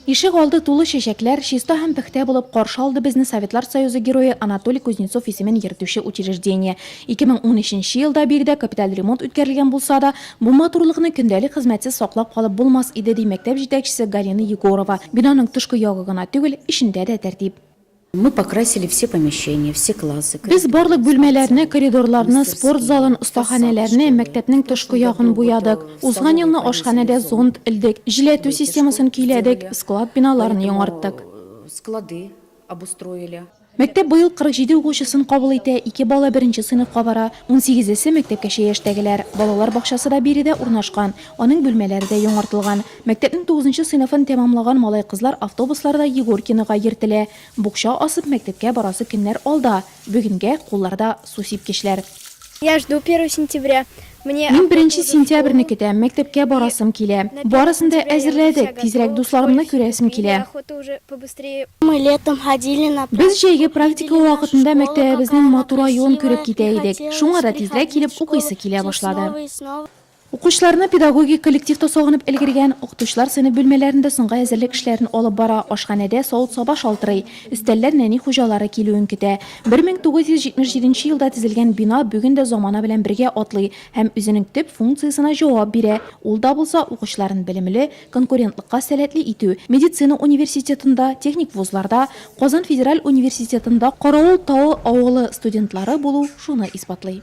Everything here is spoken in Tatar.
Ишек алды тулы чәчәкләр, чиста һәм пөхтә булып каршы алды безне Советлар Союзы Герое Анатолий Кузнецов исемен йөртүче учреждение. 2013 нче елда биредә капиталь ремонт үткәрелгән булса да, бу матурлыкны көндәлек хезмәтсез саклап калып булмас иде, ди мәктәп җитәкчесе Галина Егорова. Бинаның тышкы ягы гына түгел, эчендә дә тәртип. Мы покрасили все помещения, все классы. Без барлык бүлмәләрне, коридорларны, спорт залын, остаханәләрне, мәктәпнең тышкы ягын буядык. Узган елны ашханәдә зонд элдек, җиләтү системасын көйләдек, склад биналарын яңарттык. Склады обустроили. Мәктәп быел 47 укучысын кабул итә, ике бала беренче сыйныфка бара, унсигезесе, мәктәпкәчә яшьтәгеләр. Балалар бакчасы да биредә урнашкан, аның бүлмәләре дә яңартылган. Мәктәпнең тугызынчы сыйныфын тәмамлаган малай-кызлар автобусларда Егоркинога йөртелә. Букча асып мәктәпкә барасы көннәр алда. Бүгенгә, кулларда су сипкечләр. Я жду первое сентября, мне Мин беренче сентябрьне көтәм, мәктәпкә барасым килә. Барысын да әзерләдек, тизрәк дусларымны күрәсем килә. Мы летом ходили на практику. Без җәйге практика вакытында мәктәбебезнең матур аюын күреп китә идек. Шуңа да тизрәк килеп укыйсы килә башлады. Укучыларны педагогик коллективта сагынып өлгергән, укытучылар сыйныф бүлмәләрендә соңгы әзерлек эшләрен алып бара, ашханәдә савыт-саба шалтырый, өстәлләр нәни хуҗалары килүен көтә. 1977 елда төзелгән бина бүген дә замана белән бергә атлый һәм үзенең төп функциясенә җавап бирә, ул да булса, укучыларын белемле, конкурентлыкка сәләтле итү. Медицина университетында, техник вузларда, Казан федераль университетында Каравыл Тавы авылы студентлары булу шуны исбатлый.